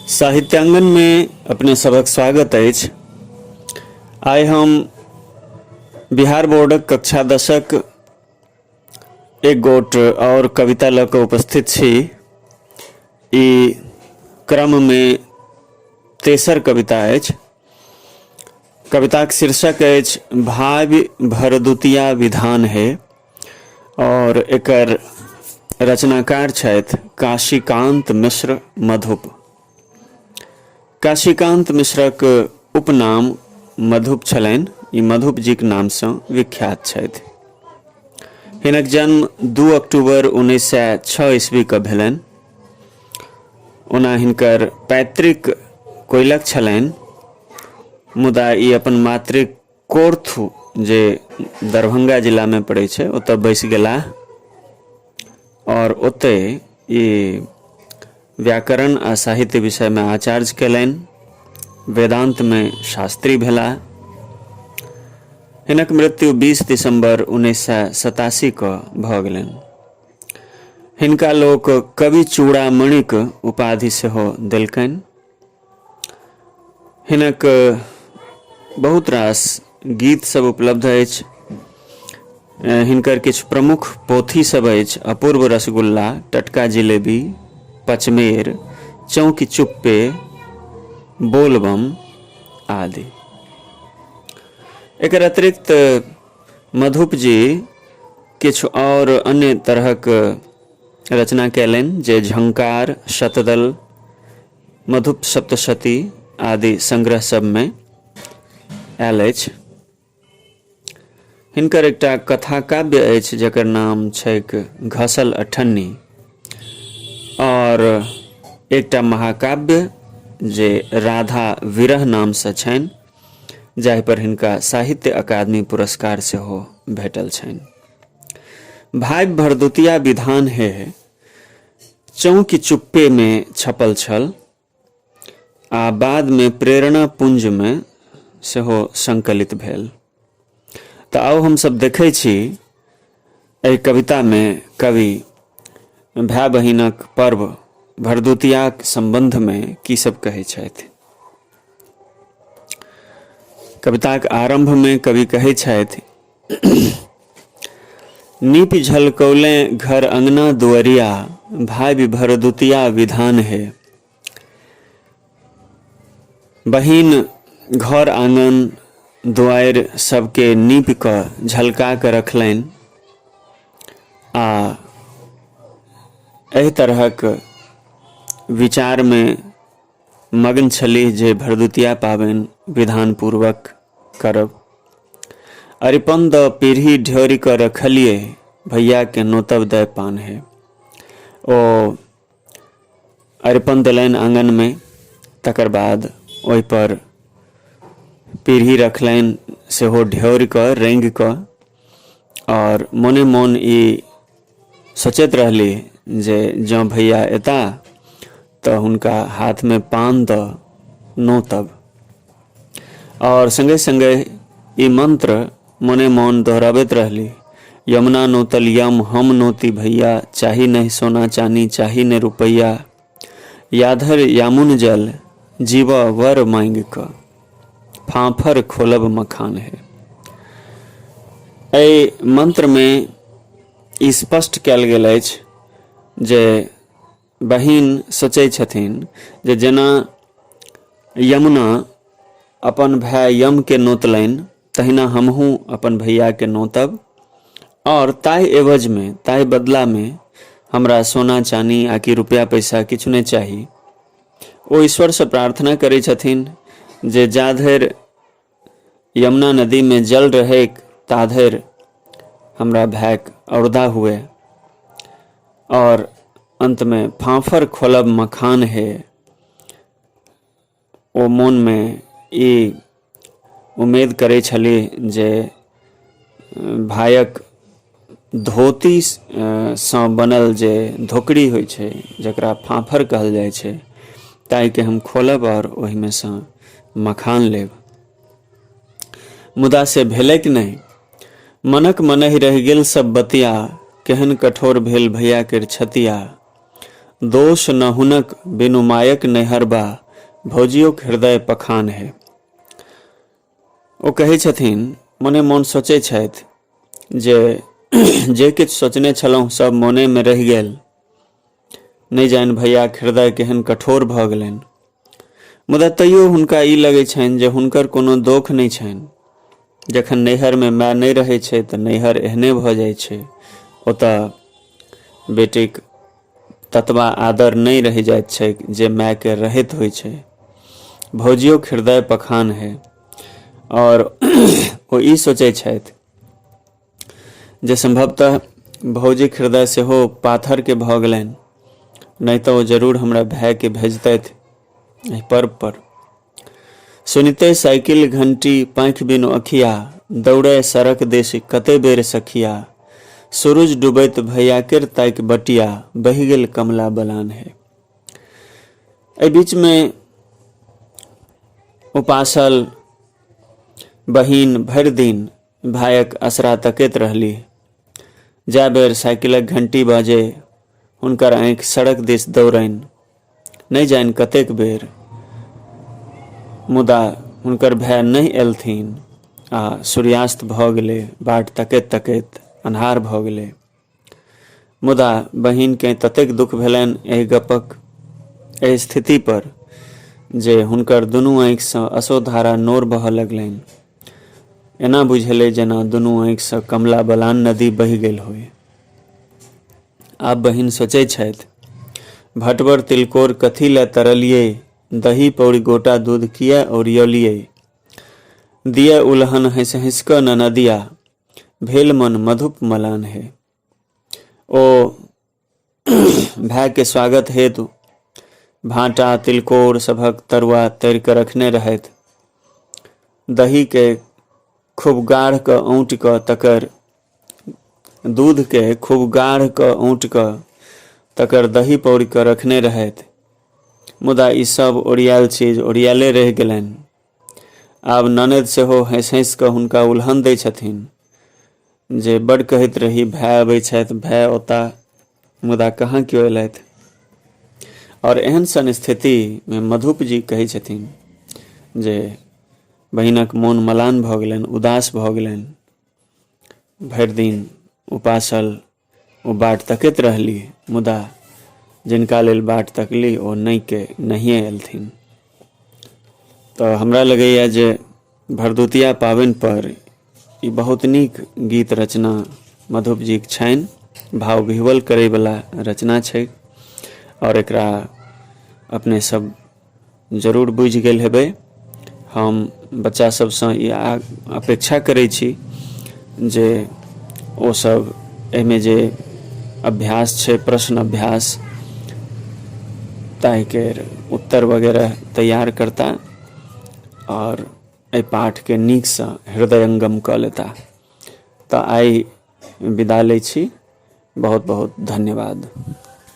साहित्यांगन में अपने सबक स्वागत अछि आइ हम बिहार बोर्डक कक्षा दशक एक गोट और कविता लऽ कऽ उपस्थित छी ई क्रम में तेसर कविता अछि कविताक शीर्षक अछि भाव्य भरदुतिया विधान हे और एकर रचनाकार छथि काशीकांत मिश्र मधुप काशीकांत मिश्रक उपनाम मधुप छलनि ई मधुप जीक नामसँ विख्यात छथि हिनक जन्म दू अक्टूबर उन्नैस सए छओ ईस्वीके भेलनि ओना हिनकर पैतृक कोयलक छलनि मुदा ई अपन मातृक कोर्थू जे दरभंगा जिलामे पड़ै छै ओतऽ बैसि गेलाह आओर ओतहि ई व्याकरण आ साहित्य विषयमे आचार्य कयलनि वेदान्तमे शास्त्री भेलाह हिनक मृत्यु 20 दिसंबर उन्नैस सए सतासी कऽ भऽ गेलनि हिनका लोक कवि चूड़ामणिक उपाधि सेहो देलकनि हिनक बहुत रास गीत सब उपलब्ध अछि हिनकर किछु प्रमुख पोथी सब अछि अपूर्व रसगुल्ला टटका जिलेबी पचमेर चौकी चुप्पे बोलबम आदि एकर अतिरिक्त मधुप जी किछु और अन्य तरहक रचना कयलनि जे झंकार शतदल मधुप सप्तशती आदि संग्रह सभमे आयल अछि हिनकर एकटा कथा काव्य अछि जकर नाम छैक घसल अठन्नी और एकटा महाकाव्य जे राधा विरह नाम से छनि जाहि पर हिनका साहित्य अकादमी पुरस्कार सेहो भेटल छनि भाग्य भरदुतिया विधान हे चौंकि चुप्पे मे छपल छल आ बाद मे प्रेरणा पुंज मे सेहो संकलित भेल तऽ आउ हमसभ देखै छी एहि कविता मे कवि भाय बहिनक पर्व भरदुतियाक संबंध मे की सब कहै छथि कविताक आरंभ मे कवि कहै छथि नीपि झलकौलें घर अंगना दुअरिया भावि भरदुतिया विधान हे बहिन घर आंगन दुआरि सबके नीप कऽ झलका कऽ रखलनि आ एहि तरहक विचारमे मग्न छलीह जे भरदुतिया पाबनि विधान पूर्वक करब अरिपन द पीढ़ी ढ्योरि कऽ रखलिए भैया के नोतब दय पान है ओ अरिपन देलनि आंगन में तकर बाद ओहि पर पीढ़ी रखलनि सेहो ढ्योरि कऽ रंगि कऽ आओर मोने मोन ई सोचैत रहली जे जँ भैया एता तऽ हुनका हाथमे पान दऽ नोतब आओर सङ्गे सङ्गे ई मन्त्र मोने मोन दोहराबैत रहली यमुना नोतल यम हम नोती भैया चाही नहि सोना चानी चाही नहि रुपैया याधर यामुन जल जीव वर मांग क फांफर खोलब मखान है एहि मंत्र में ई स्पष्ट कयल गेल अछि जे बहिन सोचै छथिन जे जेना यमुना अपन भाय यमके नोतलनि तहिना हमहूँ अपन भैयाके नोतब आओर ताहि एवजमे ताहि बदलामे हमरा सोना चानी आकि रुपैआ पैसा किछु नहि चाही ओ ईश्वरसँ प्रार्थना करै छथिन जे जा धरि यमुना नदीमे जल रहैक ता धरि हमरा भायक औरदा हुए और अंत में फांफर खोलब मखान है ओ मोनमे ई उमेद करै छलीह जे भायक धोती सँ बनल जे धोकरी होइ छै जकरा फाफर कहल जाइ छै ताहिके हम खोलब आओर ओहिमे सँ मखान लेब मुदा से भेलैक नहि मनक मनहि रहि गेल सब बतिया केहन कठोर भेल भैया केर छतिया दोष न हुनक बिनु मायक नैहर बा भौजियोक हृदय पखान हे ओ कहै छथिन मने मोन सोचै छथि जे जे किछु सोचने छलहुँ सब मोनेमे रहि गेल नहि जानि भैयाक हृदय केहन कठोर भऽ गेलनि मुदा तैयो हुनका ई लगैत छनि जे हुनकर कोनो दोख नहि छनि जखन नैहरमे माय नहि रहैत छै तऽ नैहर एहने भऽ जाइत छै ओतऽ बेटीक ततबा आदर नहि रहि जाइत छै जे मायके रहैत होइ छै भौजियो हृदय पखान है आओर ओ ई सोचै छथि जे सम्भवतः भौजीक हृदय सेहो पाथरके भऽ गेलनि नहि तऽ ओ जरूर हमरा भायके भेजतथि एहि पर्व पर सुनिते साइकिल घंटी पाँखि बिनु अखिया दौड़े सड़क देश कते बेर सखिया सूरज डूबैत भैया केर ताकि बटिया बहि गेल कमला बलान है एहि बीचमे उपासल बहिन भरि दिन भायक असरा तकैत रहलीह जा बेर साइकिलक घंटी बाजे हुनकर आँखि सड़क दिस दौड़नि नहि जानि कतेक बेर मुदा हुनकर भाय नहि एलथिन आ सूर्यास्त भऽ गेलै बाट तकैत तकैत अन्हार भऽ गेलै मुदा बहिन कें ततेक दुख भेलैन एहि गप्पक एहि स्थिति पर जे हुनकर दुनू आँखि सँ असोधारा नोर बहऽ लगलैन। एना बुझेलै जेना दुनू आँखि सँ कमला बलान नदी बहि गेल होइ। आब बहिन सोचै छैथ, भटवर तिलकोर कथी लए तरलियै, दही पौरि गोटा दूध किए ओरियौलियै। दिअ उलहन हँसि-हँसि कऽ ननदिया। भेल मन मधुप मलान हे ओ भायके स्वागत हेतु भाटा तिलकोर सभक तरुआ तरि कऽ रखने रहथि दहीके खूब गाढ़ कऽ औंट कऽ तकर दूधके खूब गाढ़ कऽ औंट कऽ तकर दही पौर कऽ रखने रहथि मुदा ई सब ओरियाल चीज ओरियाले रहि गेलनि आब ननद सेहो हँसि हँसि कऽ हुनका उल्हन दै छथिन जे बड कहैत रही भाय अबै छथि भाय ओता मुदा कहाँ केओ अयलथि आओर एहन सन स्थितिमे मधुप जी कहै छथिन जे बहिनक मोन मलान भऽ गेलनि उदास भऽ गेलनि भरि दिन उपासल ओ बाट तकैत रहलीह मुदा जिनका लेल बाट तकली ओ नहि के नहिए एलथिन तऽ हमरा लगैए जे भरदुतिया पाबनि पर ई बहुत नीक गीत रचना मधुप जीक छनि भाव विह्वल करैवला रचना छै आओर एकरा अपने सब जरूर बुझि गेल हेबै हम बच्चा सबसँ ई अपेक्षा करै छी जे ओ सब एहिमे जे अभ्यास छै प्रश्न अभ्यास ताहिके उत्तर वगैरह तैयार करता आओर एहि पाठके नीकसँ हृदयंगम कऽ लेता तऽ आइ विदा लै छी बहुत बहुत धन्यवाद